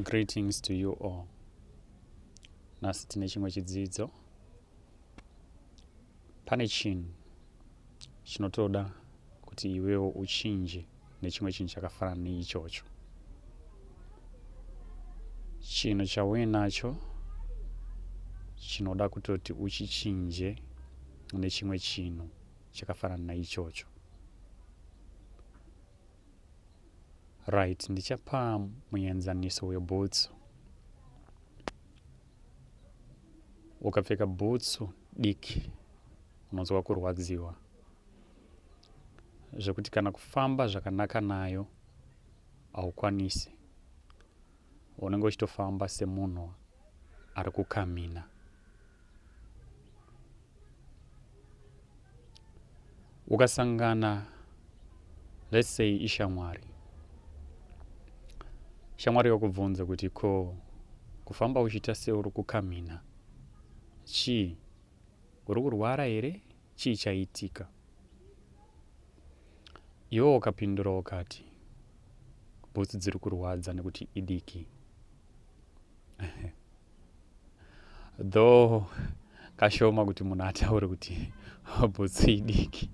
Greetings to you all. Nhasi tine chimwe chidzidzo. Pane chinhu chinotoda kuti iwewo uchinje nechimwe chinhu chakafanana neichocho. Chinhu chauye nacho chinoda kutoti uchichinje nechimwe chinhu chakafanana naichocho. right ndichapa muenzaniso webhutsu ukapfeka bhutsu diki unonzwa kurwadziwa zvekuti kana kufamba zvakanaka nayo haukwanisi unenge uchitofamba semunhu ari kukamina ukasangana let's say ishamwari shamwari yokubvunza kuti ko kufamba uchiita seuri kukamhina chii uri kurwara here chii chaitika iwe ukapindura ukati bhutsu dziri kurwadza nekuti idiki though kashoma kuti munhu ataure kuti bhutsu idiki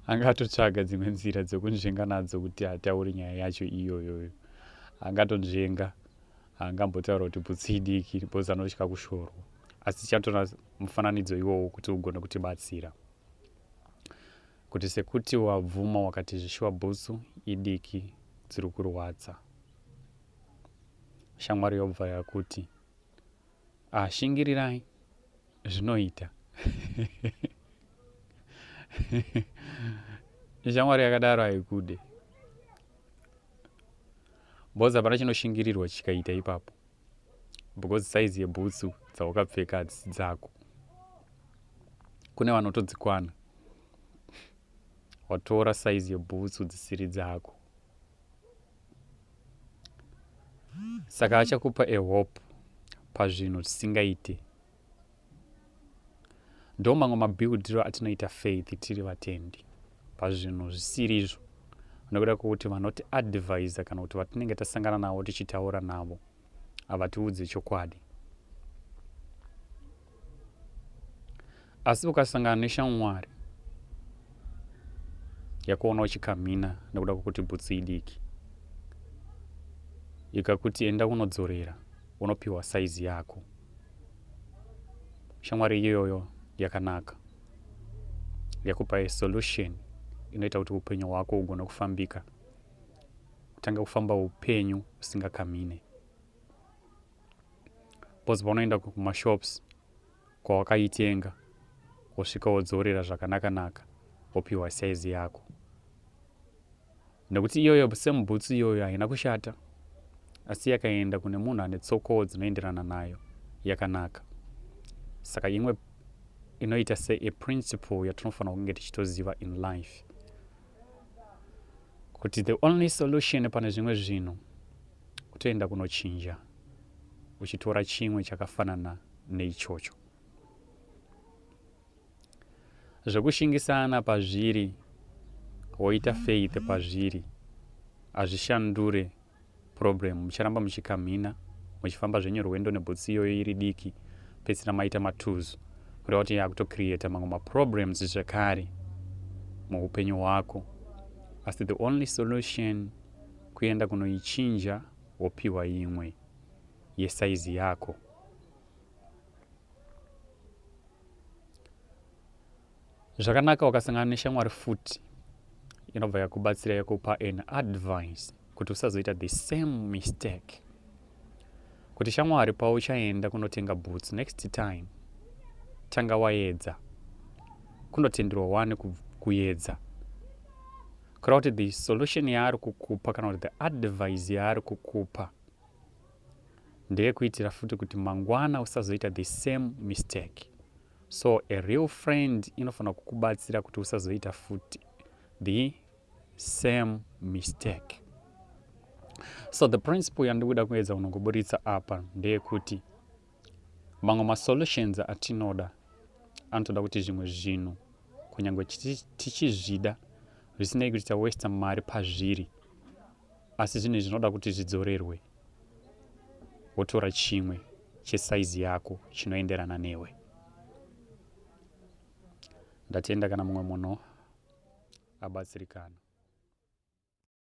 angatotsvaga dzimwe nzira dzekunzvenga nadzo kuti ataure nyaya yacho iyoyoyo angatonzvenga angambotaura kuti bhutsu idiki bhozi anotya kushorwa asi tichatora mufananidzo iwowo kuti ugone kutibatsira kuti sekuti wabvuma wakati zvishuwa bhutsu idiki dziri kurwadza shamwari yobva yakuti ah, shingirirai zvinoita shamwari yakadaro haikude bhozi hapana chinoshingirirwa chikaita ipapo because saizi yebhutsu dzawakapfeka hadzisi dzako kune vanotodzikwana watora saizi yebhutsu dzisiri dzako saka achakupa a hope pazvinhu zvisingaite ndo mamwe mabuildiro atinoita faith tiri vatendi pazvinhu zvisiri izvo nokuda kwokuti vanoti advisa kana kuti vatinenge tasangana navo tichitaura navo havatiudze chokwadi asi ukasangana neshamwari yakuona uchikamhina nekuda kwekuti bhutsu idiki ikakuti enda kunodzorera unopiwa saizi yako shamwari iyoyo yakanaka yakupa solution inoita kuti upenyu hwako hugone kufambika kutanga kufamba upenyu usingakamine bcause paunoenda kumashops kwawakaitenga wosvika wodzorera zvakanakanaka wopiwa saizi yako nekuti iyoyo semubhutsu iyoyo haina kushata asi yakaenda kune munhu ane tsokowo dzinoenderana nayo yakanaka saka imwe inoita seaprinciple yatinofanira kunge tichitoziva in life kuti the only solution pane zvimwe zvinhu kutoenda kunochinja uchitora chimwe chakafanana neichocho zvekushingisana pazviri woita faith pazviri hazvishandure problem mucharamba muchikamhina muchifamba zvenyu rwendo nebhutsi iyoyo iri diki pedzisira maita matuzu kureva kuti yakutocreata mamwe maproblems zvekare muupenyu hwako asi the only solution kuenda kunoichinja wopiwa imwe yesaizi yako zvakanaka wakasangana neshamwari futi inobva yakubatsira yakupa an advice kuti usazoita the same mistake kuti shamwari pauchaenda kunotenga boots next time tanga waedza kunotenderwa wani kuedza kura kuti the solution yaari kukupa kana kuti the advice yaari kukupa ndeyekuitira futi kuti mangwana usazoita the same mistake so a real friend inofanira kukubatsira kuti usazoita futi the same mistake so the principle yandikuda kuedza kunongoburitsa apa ndeyekuti mamwe masolutions atinoda anotoda kuti zvimwe zvinhu kunyange tichizvida zvisinei kuti tawesta mari pazviri asi zvinhu izvi zvinoda kuti zvidzorerwe wotora chimwe chesaizi yako chinoenderana newe ndatenda kana mumwe munhu abatsirikana